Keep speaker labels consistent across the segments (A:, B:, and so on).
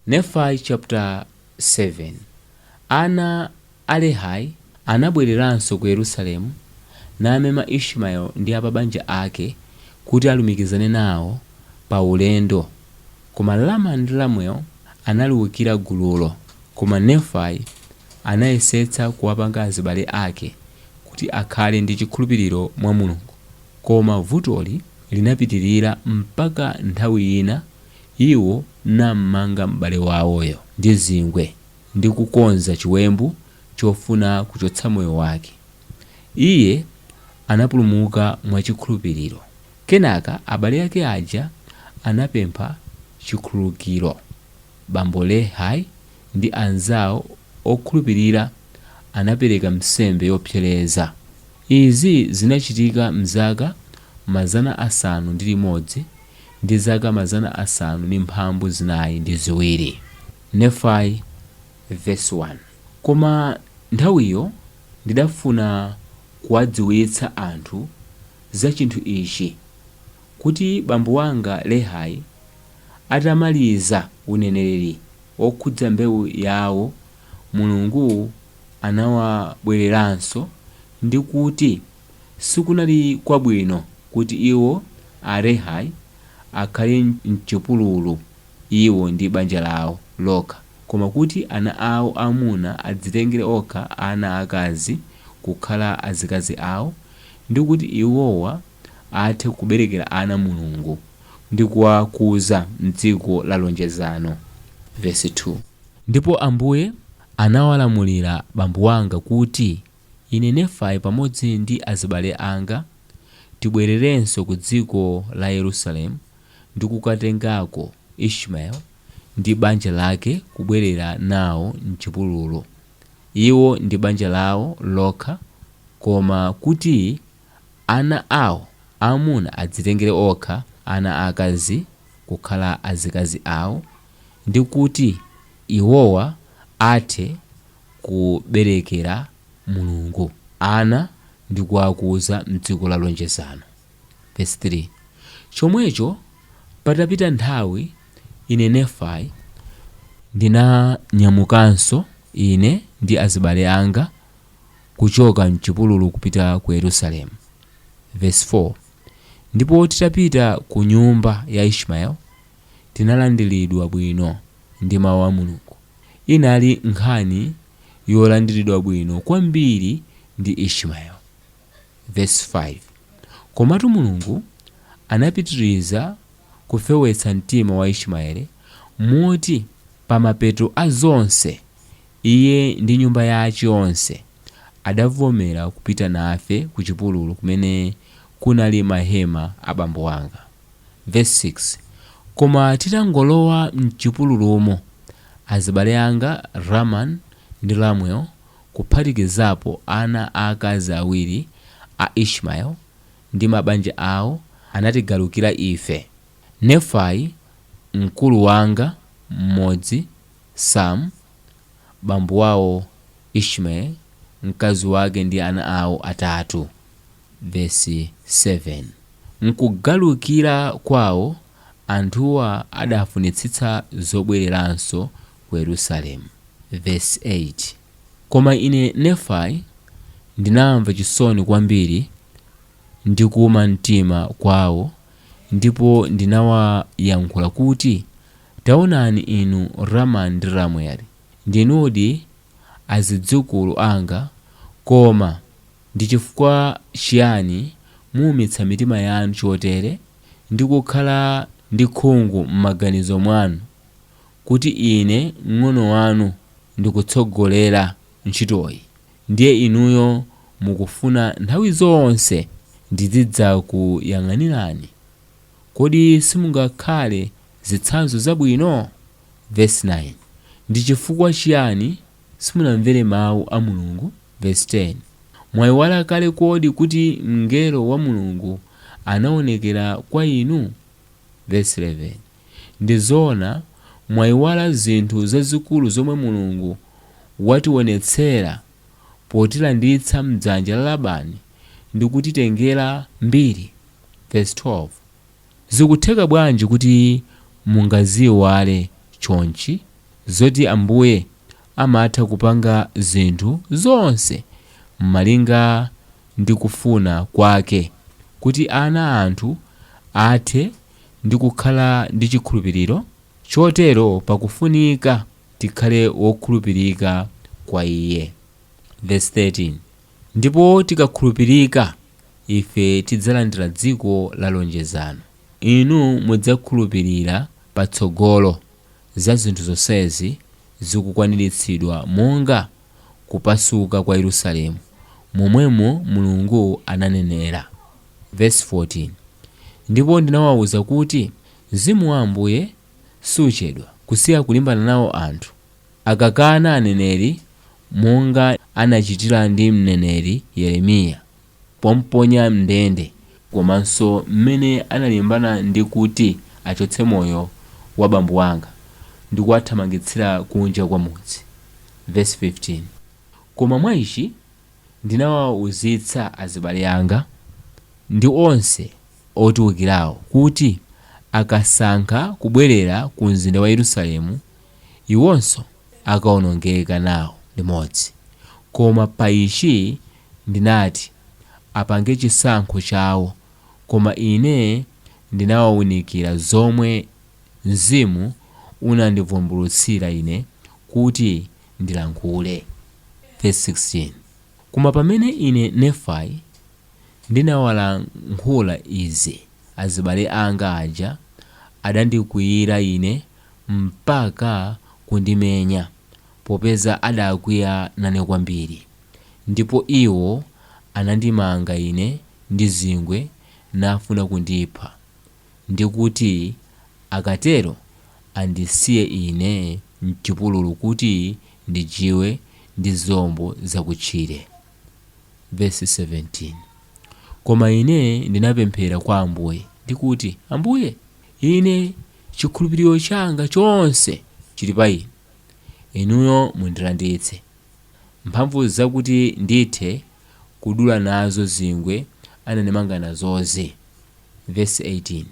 A: Nefai chapter 7 Ana a Lehi anabwereranso ku Yerusalemu, namema Ishmael ndi a pa banja ake kuti alumikizane nawo pa ulendo, koma Laman ndi Lemuel analiukira gululo, koma Nefai anayesetsa kuwapanga azibale ake kuti akhale ndi chikhulupiriro mwa Mulungu, koma vutoli linapitirira mpaka nthawi ina Iwo nam'manga m'bale wawoyo ndi zingwe ndi kukonza chiwembu chofuna kuchotsa moyo wake. Iye anapulumuka mwachikhulupiriro. Kenaka abale ake aja anapempha chikhululukiro. Bambo Lehi ndi anzawo okhulupirira anapereka nsembe yopsereza. Izi zinachitika m'zaka mazana asanu ndi limodzi. ndi zaka mazana asanu ndi mphambu zinayi ndi ziwiri. Nefai, vesi 1. Koma nthawiyo ndidafuna kuwadziwitsa anthu za chinthu ichi, kuti bambo wanga Lehi atamaliza uneneri wokhudza mbewu yawo, Mulungu anawabwereranso, ndi kuti, Sikunali kwabwino kuti iwo, a Lehi, akhale m'chipululu, iwo ndi banja lawo lokha, koma kuti ana awo aamuna adzitengere okha ana aakazi kukhala azikazi awo, ndi kuti iwowa athe kuberekera ana Mulungu, ndi kuwakuza m'dziko la lonjezano. Vesi 2. Ndipo Ambuye anawalamulira bambo wanga kuti. Ine, Nefai, pamodzi ndi azibale anga, tibwererenso ku dziko la Yerusalemu ndi kukatengako Ishmael ndi banja lake kubwerera nawo m'chipululu, iwo ndi banja lawo lokha, koma kuti ana awo aamuna adzitengere okha ana aakazi kukhala azikazi awo, ndi kuti iwowa athe kuberekera Mulungu ana ndi kuwakuza m'dziko la lonjezano, vesi 3, Chomwecho patapita nthawi ine, Nefai, ndinanyamukanso, ine ndi azibale anga, kuchoka m'chipululu kupita ku Yerusalemu, vesi 4, Ndipo titapita ku nyumba ya Ishmael, tinalandiridwa bwino. ndi Mawu a Mulungu inali nkhani yolandiridwa bwino kwambiri ndi Ishmael. Vesi 5, Komatu Mulungu anapitiriza kufewetsa mtima wa Ishmael moti pa mapeto a zonse iye ndi nyumba yace yonse adavomera kupita nafe kucipululu kumene kunali mahema a bambo wanga. Vesi 6, Koma titangolowa m'chipululumo, azibale anga Raman ndi Ramuel kuphatikizapo ana aakazi awiri a Ishmael ndi mabanja awo anatigalukira ife. Nefai, mkulu wanga m'modzi, Sam, bambo wawo Ishmael, mkazi wake ndi ana awo atatu. Vesi 7, M'kugalukira kwawo, anthuwa adafunitsitsa zobwereranso ku Yerusalemu. Vesi 8, Koma ine, Nefai, ndinamva chisoni kwambiri ndi kuuma mtima kwawo, ndipo ndinawayankhula kuti, Taonani inu Raman ndi Ramueli, ndinudi azidzukulu anga, koma. Ndi chifukwa chiyani muumitsa mitima yanu chotere, ndi kukhala ndi khungu m'maganizo mwanu, kuti ine mng'ono wanu ndikutsogolera ntchitoyi, ndiye inuyo mukufuna nthawi zonse ndizidzakuyang'anirani? Kodi simungakhale zitsanzo zabwino? Vesi 9, Ndi chifukwa chiyani Simunamvere mau a Mulungu, vesi 10. Mwaiwala kale kodi kuti mngelo wa Mulungu anaonekera kwa inu? Vesi 11. Ndi zoona mwaiwala zinthu zazikulu zomwe Mulungu wationetsera potilanditsa m'dzanja la Labani ndi kutitengera mbiri? Vesi 12. Zikutheka bwanji kuti mungaziiwale chonchi, zoti Ambuye amatha kupanga zinthu zonse m'malinga ndi kufuna kwake, kuti ana a anthu athe ndi kukhala ndi chikhulupiriro? Chotero pakufunika tikhale wokhulupirika kwa Iye. Vesi 13. Ndipo tikakhulupirika, ife tidzalandira dziko la lonjezano. Inu mudzakhulupirira patsogolo za zinthu zonsezi zikukwaniritsidwa monga kupasuka kwa Yerusalemu, momwemo Mulungu ananenera. Vesi 14, Ndipo ndinawauza kuti, Mzimu wa Ambuye siuchedwa kusiya kulimbana nawo anthu. Akakana aneneri monga anachitira ndi mneneri Yeremiya pomponya m'ndende komanso mmene analimbana ndi kuti achotse moyo wa abambo anga ndi kuwathamangitsira kunja kwa mudzi, vesi 15, koma mwa ichi ndinawauzitsa azibale anga, ndi onse otiukirawo, kuti akasankha kubwerera ku mzinda wa Yerusalemu iwonso akawonongeka nawo limodzi. Koma pa ichi ndinati, Apange chisankho chawo, koma ine ndinawaunikira zomwe Mzimu unandivumbulutsira ine kuti ndilankhule. Vesi 16, Koma pamene ine, Nefai. Ndinawalankhula izi azibale anga aja adandikwiyira ine mpaka kundimenya popeza adakwiya nane kwambiri ndipo iwo anandimanga ine ndi zingwe nafuna kundipha ndi kuti akatero andisiye ine m'chipululu kuti ndijiwe ndi zilombo zakutchire. vesi 17 Koma ine ndinapemphera kwa Ambuye, ndi kuti, Ambuye, ine chikhulupiriro changa chonse chili pa inu, inuyo mundilanditse mphamvu zakuti ndithe kudula nazo zingwe anandimanga nazozi. Vesi 18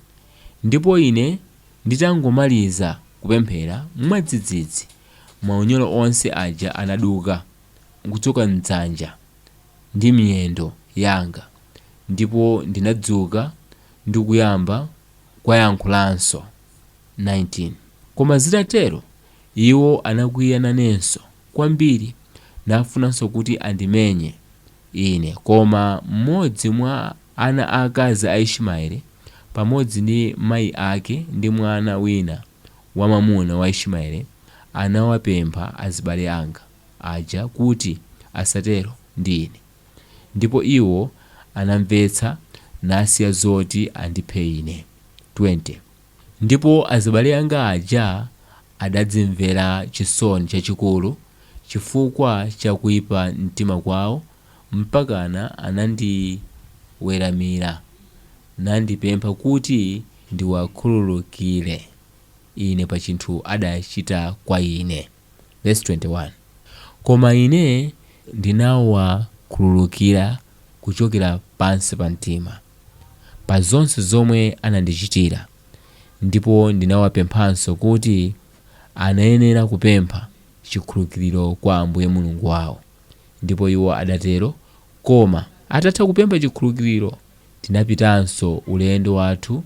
A: Ndipo ine nditangomaliza kupemphera, mwadzidzidzi maunyolo onse aja anaduka. nkuchoka m'dzanja ndi miyendo yanga, ndipo ndinadzuka ndi kuyamba kuwayankhulanso, 19 koma zitatero iwo anakwiya nanenso kwambiri, nafunanso kuti andimenye ine, koma mmodzi mwa ana aakazi a Ishimaele, pamodzi ndi mayi ake ndi mwana wina. wamwamuna wa Ishimaele anawapempha azibale anga aja kuti asatero ndi ine, ndipo iwo anamvetsa nasiya zoti andiphe ine. 20 ndipo azibale anga aja adadzimvera chisoni chachikulu chifukwa cha kuipa mtima kwawo. mpakana anandiweramira nandipempha kuti ndiwakhululukire ine pa chinthu adachita kwa ine. Vesi 21, Koma ine ndinawakhululukira kuchokera pansi pa mtima pa zonse zomwe anandichitira ndipo ndinawapemphanso kuti anayenera kupempha chikhululukiro kwa Ambuye Mulungu wawo. Ndipo iwo adatero, koma atatha kupempha chikhululukiro, tinapitanso ulendo wathu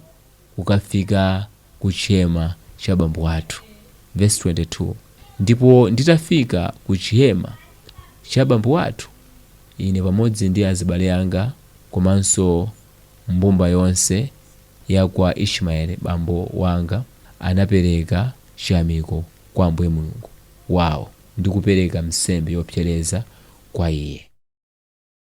A: kukafika ku chihema cha bambo athu. Vesi 22, Ndipo nditafika ku chihema cha bambo athu, ine pamodzi ndi azibale anga komanso mbumba yonse ya kwa Ishimaeli bambo wanga anapereka chiyamiko kwa Ambuye Mulungu wawo ndi kupereka nsembe yopsereza kwa Iye.